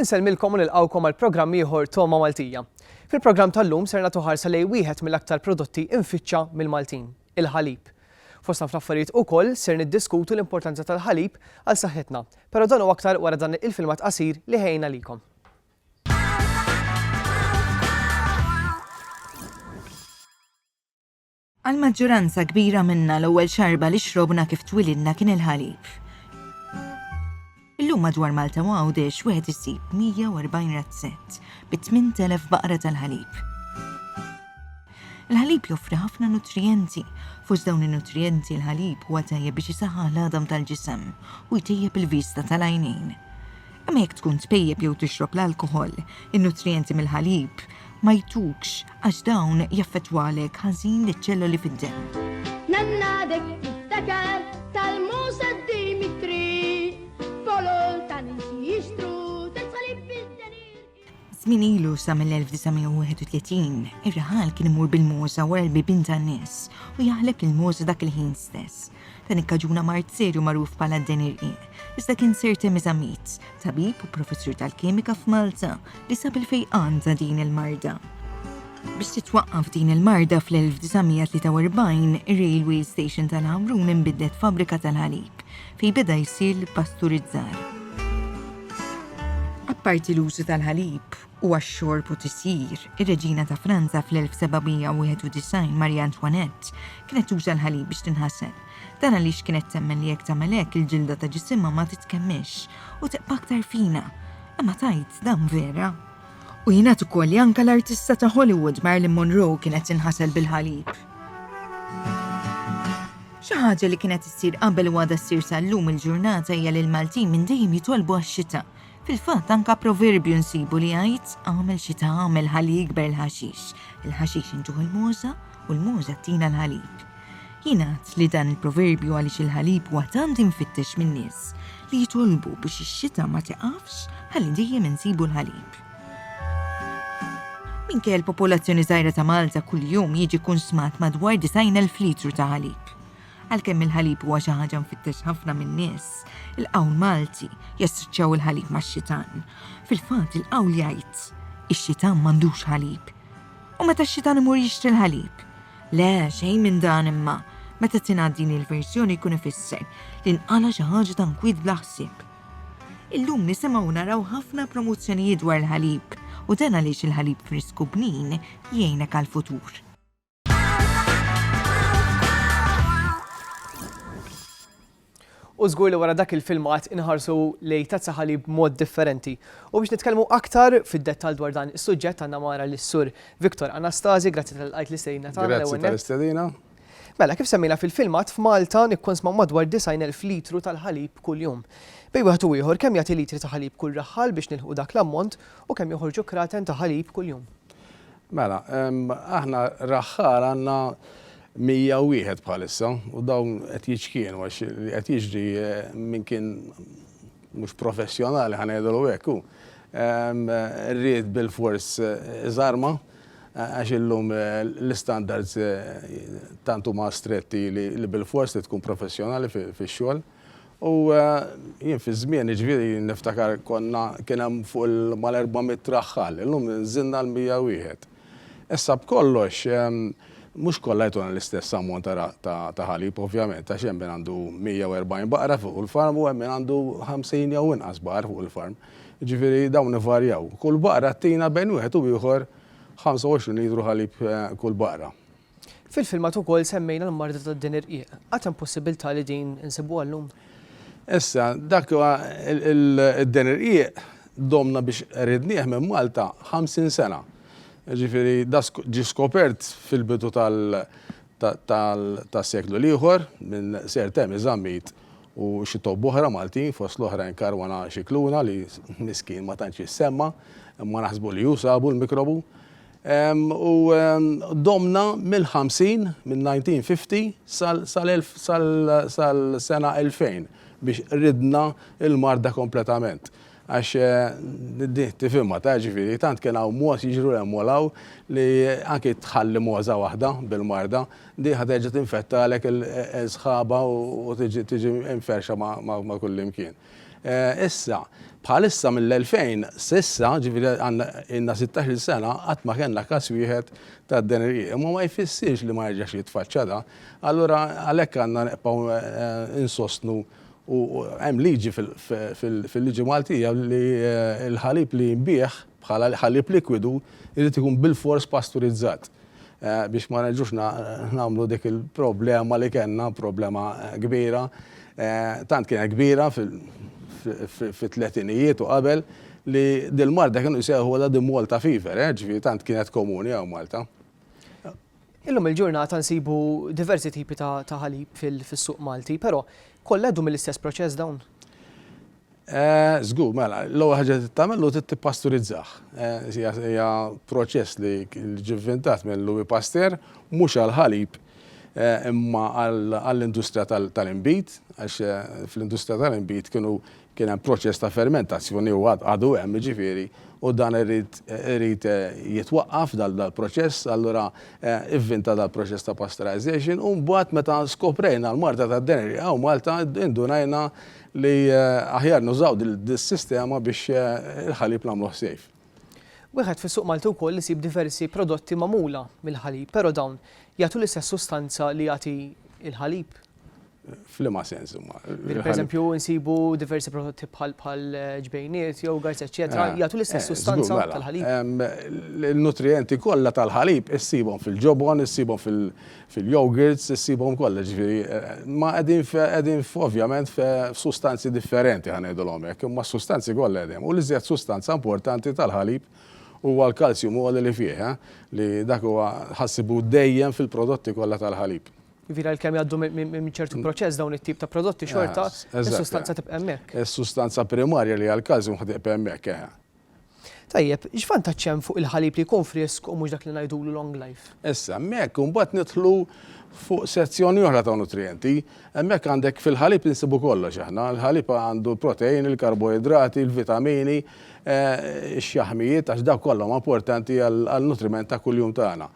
Insellmilkom u nilqgħukom għal programm ieħor Togħma Maltija. Fil-programm tal-lum ser nagħtu ħarsa lejn wieħed mill-aktar prodotti imfittxa mill-Maltin, il-ħalib. Fosna fl-affarijiet ukoll ser niddiskutu l-importanza tal-ħalib għal saħħitna, però dan u aktar wara dan il-filmat qasir li ħejna likom. Għall-maġġuranza kbira minna l-ewwel xarba li xrobna kif twilidna kien il-ħalib. Illum madwar Malta u Għawdex wieħed isib 140 razzett bi 8,000 baqra tal-ħalib. Il-ħalib joffri ħafna nutrijenti, fost dawn in-nutrijenti l-ħalib huwa tajjeb biex isaħħaħ l-għadam tal-ġisem u jtejjeb il-vista tal-għajnejn. Imma jekk tkun tpejjep jew tixrob l-alkoħol, in-nutrijenti mill-ħalib ma jtukx għax dawn jaffettwalek ħażin liċ-ċelloli fid-demm. Nannadek tiftakar tal-Musa Dimitri, folol ta' nies li jixtru terz ħalib bid-derir. Żmien ilu sa mill-1931, ir-raħal kien imur bil-moża wara l-bibien tan-nies u jaħleb lill-moża dak il-ħin stess. Dan ikkaġuna mard serju magħruf bħala d-den irqiq, iżda kien Sir Temis Amit, tabib u professur tal-kimika f'Malta, li sab il-fejqan ta' din il-marda. Biex titwaqqaf din il-marda fl-1943, ir-railway station tal-Ħamrun inbidlet fabbrika tal-ħalib. fejn beda jsir l-ippasturizzar. Apparti l-użu tal-ħalib u għax-xorb u tisjir, ir-Reġina ta' Franza fl-1791 Marie Antoinette kienet tuża l-ħalib biex tinħasel. Dan għaliex kienet temmen li jekk tagħmel hekk il-ġilda ta' ġisimha ma titkemmilx u tibqa' aktar fina. Imma tajt dan vera. U jingħad ukoll li anke l-artista ta' Hollywood Marilyn Monroe kienet tinħasel bil-ħalib. Xi ħaġa li kienet issir qabel u għadha ssir sal-lum il-ġurnata hija li l-Maltin minn dejjem jitolbu għax-xita. Fil-fatt anka proverbju nsibu li jgħid għamel xita għamel ħalli jikber il-ħaxix. Il-ħaxix intuh il-mogħża u l-mogħża ttina l-ħalib. Jingħad li dan il-proverbju għaliex il-ħalib huwa tant imfittex min-nies li jitolbu biex ix-xita ma tiqafx ħalli dejjem insibu l-ħalib. Minkejja l-popolazzjoni żgħira ta' Malta kuljum jiġi kunsmat madwar 90,000 litru ta' ħalib. Għalkemm il-ħalib huwa xi ħaġa mfittex ħafna min-nies, il-qawl Malti jassoċjaw il-ħalib max-xitan. Fil-fatt il-qawl jgħid, Ix-xitan m'għandux ħalib. U meta x-xitan imur jixtri l-ħalib? Le, xejn minn dan imma, meta tingħad din il-verżjoni jkun ifisser li nqala xi ħaġa ta' nkwiet bla ħsieb. Illum nisimgħu u naraw ħafna promozzjonijiet dwar il-ħalib u dan għaliex il-ħalib frisk u bnin jgħinek għall-futur. U żgur li wara dak il-filmat inħarsu lej tazza ħalib mod differenti. U biex nitkellmu aktar fid-dettall dwar dan is-suġġett għandna mara lis-sur Viktor Anastasi, grazzi tal-qajt l-istedina tagħna. Grazzi tal-istedina. Mela, kif semmejna fil-filmat, f'Malta nikkonsmaw madwar 90,000 litru tal-ħalib kuljum. Bejn wieħed u ieħor, kemm jagħti litri ta' ħalib kull raħħal biex nilħqu dak l-ammont u kemm joħorġu kraten ta' ħalib kuljum? Mela, aħna raħħal għandna 101 bħalissa u dawn qed jiċkienu għax li qed jiġri minn kien mhux professjonali ħa ngħidulu hekk hu. Ried bil-fors żarma' Għax illum l-istandards tant huma stretti li bilfors trid tkun professjonali fix-xogħol. U jien fi żmieni ġifieri niftakar konna kien hemm fuq il-mal-400 raħħal, illum nżilna għal 101. Issa b'kollox mhux kollha jtuna l-istess ammont ta' ħalib ovvjament għax hemm min għandu 140 baqra fuq il-farm u hemm min għandu 50 jew inqas baqar fuq il-farm. Jiġifieri dawn ivarjaw. Kull baqra ttina bejn wieħed u ieħor 25 litru ħalib kull baqra. Fil-filmat ukoll semmejna l-marda tad-deni rqiq. Għad hemm possibilità li din insibuha llum? Issa, dak id-deni rqiq domna biex ridnieh minn Malta 50 sena. Jiġifieri da ġie skopert fil-bidu tas-seklu l-ieħor minn Sir Temi Zammit u xi tobba oħra Maltin, fost l-oħrajn Caruana Scicluna li miskien ma tantx jissemma, imma naħsbu li hu sabu l-mikrobu. U domna mill-50, mill-1950 sal-sena 2000 biex ridna l-marda kompletament. Għax din tifhimha ta, jiġifieri tant kien hawn mogħoż jiġru hemm u 'l hawn li anki tħalli mogħoża waħda bil-marda, din ħa terġa' tinfettalek sħabha u tiġi mferrxa ma' kullimkien. Issa, bħalissa mill-2000 s'issa, jiġifieri ilna sittax-il sena qatt ma kellna każ wieħed ta' dan il-qi. Imma ma jfissirx li ma jerġax jitfaċċa da. Allura għalhekk għandna nibqgħu insostnu U hemm liġi fil-liġi Maltija li l-ħalib li jinbiegħ bħala ħalib likwidu jrid ikun bilfors pasturizzat biex ma nerġgħux nagħmlu dik il-problema li kellna, problema kbira, tant kienet kbira fit-tletinijiet u qabel li dil-marda kienu jsejħulha the Malta fever, ġifieri tant kienet komuni hawn Malta. Illum il-ġurnata nsibu diversi tipi ta' ħalib fis-suq Malti, però kollha jgħaddu mill-istess proċess dawn? Żgur, mela, l-ewwel ħaġa li tagħmel hu trid tippasturizzah. Hija proċess li ġie vvintat minn Louis Pasteur mhux għall-ħalib imma għall-industrija tal-inbid għax fl-industrija tal-inbid kienu Kien hemm proċess ta' fermentazzjoni u għad għadu hemm jiġifieri u dan irid irid jitwaqqaf dal dal-proċess allura ivvinta dal-proċess ta' pasteurization u mbagħad meta skoprejna l-marda tad-deneri hawn Malta indunajna li aħjar nużaw dil dis-sistema biex il-ħalib nagħmluh safe. Wieħed fis-suq Malti wkoll isib diversi prodotti magħmula mill-ħalib però dawn jagħtu l-istess sustanza li jagħti l-ħalib? Flima sens huma. Per eżempju, nsibu diversi prodotti bħal bħal eh, ġbejniet jew garz eċetera, eh, jagħtu l-istess eh, sustanza mela. tal-ħalib. Il-nutrienti kollha tal-ħalib issibhom fil-ġobon, issibhom fil-yogurts, issibhom kollha ġifieri. Ma qegħdin qegħdin ovvjament f'sustanzi differenti ħanejdulhom hekk, imma sustanzi kollha qegħdin. U li żjed sustanza importanti tal-ħalib huwa l-kalzjum u li fih, li dak huwa ħassibu dejjem fil-prodotti kollha tal-ħalib. Jiġifieri għalkemm jgħaddu minn ċertu proċess dawn it-tip ta' prodotti xorta s-sustanza tibqa' hemmhekk. Is-sustanza primarja li hija l-kalzjum ħa tibqa' hemmhekk, eħe. Tajjeb, x'vantaġġ hemm fuq il-ħalib li jkun frisk u mhux dak li ngħidulu long life? Issa, hemmhekk imbagħad nidħlu fuq sezzjoni oħra ta' nutrijenti. Hemmhekk għandek fil-ħalib insibu kollox aħna. Il-ħalib għandu l-proteini, il-karboidrati, il-vitamini, ix-xaħmijiet għax dawk kollha huma importanti għan-nutriment ta' kuljum tagħna.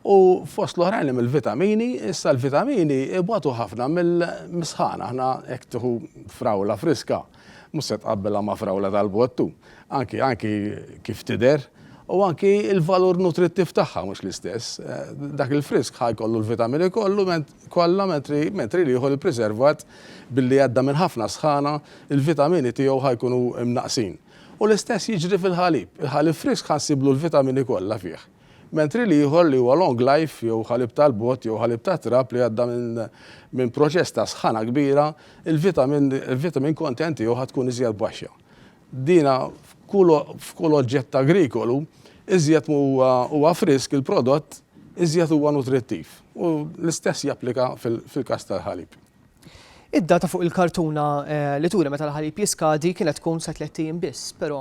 U fost l-oħrajn hemm il-vitamini, issa l-vitamini ibatu ħafna mill-misħan, aħna hekk tieħu frawla friska, mhux se tqabbilha ma' frawla tal-bottu, anki anki kif tidher, u anki l-valur nutrittiv tagħha mhux l-istess. Dak il-frisk ħa jkollu l-vitamini kollu kollha mentri mentri l-ieħor il-priservat billi għadda minn ħafna sħana l-vitamini tiegħu ħa jkunu mnaqqsin. U l-istess jiġri fil-ħalib, il-ħalib frisk ħa nsiblu l-vitamini kollha fih. mentri l-ieħor li huwa long life jew ħalib tal-bott jew ħalib tat-trab li għadda minn proċess ta' sħana kbira, il-vitamin content tiegħu ħa tkun iżjed baxxa. Dina f'kull oġġett agrikolu, iżjed ma huwa frisk il-prodott, iżjed huwa nutrittiv. U l-istess japplika fil-każ tal-ħalib. Id-data fuq il-kartuna li turi meta l-ħalib jiskadi kienet tkun sa tliet ijiem biss, però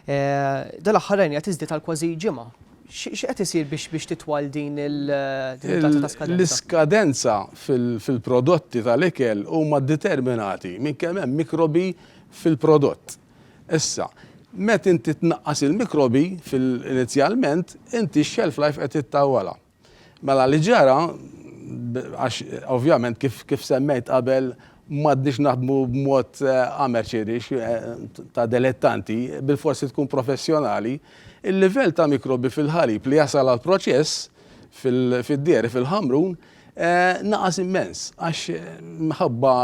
dal-aħħar rajniha tiżdied għal kważi ġimgħa. X'qed isir biex titwal din id-data ta' skadenza? L-iskadenza fil-prodotti tal-ikel huma ddeterminati minn kemm hemm mikrobi fil-prodott. Issa, meta inti tnaqqas il-mikrobi inizjalment, inti x-shelf life qed ittawwalha. Mela li ġara, għax ovvjament kif, kif semmejt qabel, m'għadniex naħdmu b'mod eh, amerċirix eh, ta' delettanti, bil-forsi tkun professjonali, il-livell ta' mikrobi fil-ħalib li jasal għal proċess fil-dieri fil-ħamrun eh, naqas immens, għax mħabba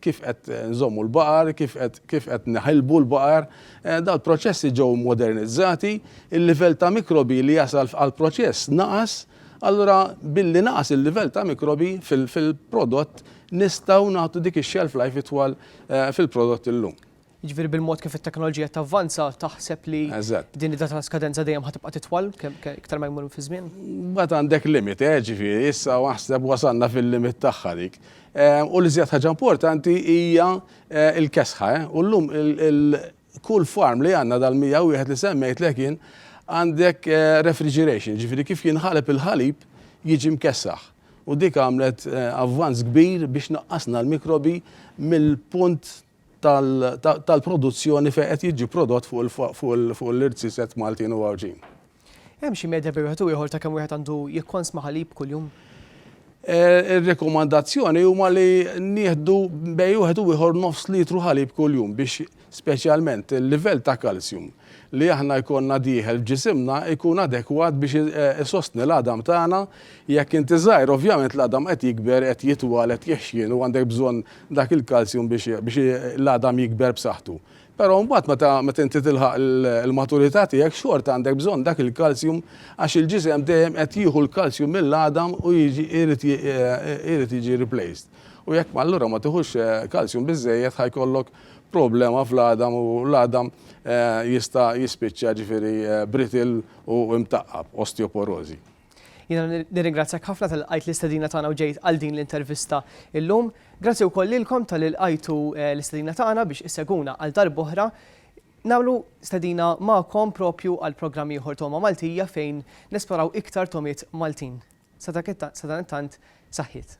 kif qed nżommu l-baqar, kif qed neħilbu l-baqar, Dal-proċessi ġew modernizzati, il-livell ta' mikrobi li jasal f'għall-proċess naqas, allura billi naqas il-livell ta' mikrobi fil-prodott nistgħu nagħtu dik ix-shelf life itwal fil-prodott illum. Jiġifieri bil-mod kif it-teknoloġija qed tavvanza taħseb li din id-data ta' skadenza dejjem ħa tibqa' titwal iktar ma jmur fiż-żmien? Mbagħad għandek limit, jiġifieri issa aħseb wasalna fil-limit tagħha dik. U l-iżjed ħaġa importanti hija Eh il-kesħa eh! U llum il-kull farm li għandna dal-101 li semmejtlek jien għandek refrigeration, jiġifieri kif jinħaleb il-ħalib jiġi mkessaħ. U dik għamlet avvanz kbir biex naqqasna l-mikrobi mill-punt tal-produzzjoni fejn qed jiġi prodott fuq l-ird siset Maltin u Għawdxin. Hemm xi medja bejn wieħed u ieħor ta' kemm wieħed għandu jikkonsma ħalib kuljum? Eh, ir-rekomandazzjoni huma li nieħdu bej wieħed u ieħor nofs litru ħalib kuljum biex speċjalment il-livell ta' kalzjum li aħna jkollna dieħel ġisimna jkun adekwat biex eh, isostni l-għadam tagħna jekk inti żgħir ovvjament l-għadam qed jikber qed jitwal qed jexxien u għandek bżonn dak il-kalzjum biex l-għadam jikber b'saħħtu. Però mbagħad meta meta inti tilħaq il-maturità tiegħek xorta għandek bżonn dak il-kalsjum għax il-ġisem dejjem qed jieħu l-kalsjum mill-għadam u jiġi irid irid jiġi replaced. U jekk ma allura ma tiħux kalsjum biżżejjed ħa jkollok problema fl-għadam u l-għadam jista' jispiċċa ġifieri brittle u mtaqqab, osteoporożi. Jiena nirringrazzjak ħafna tal qajt l-istedina tagħna u ġejt għal din l-intervista illum. Grazzi wkoll lilkom tal qajtu eh, l-istedina tagħna biex isseguna għal darb'oħra. Namlu stedina ma'kom propju għal programm ieħor Toma Maltija fejn nesploraw iktar tomiet Maltin. Sadan tant saħħiet.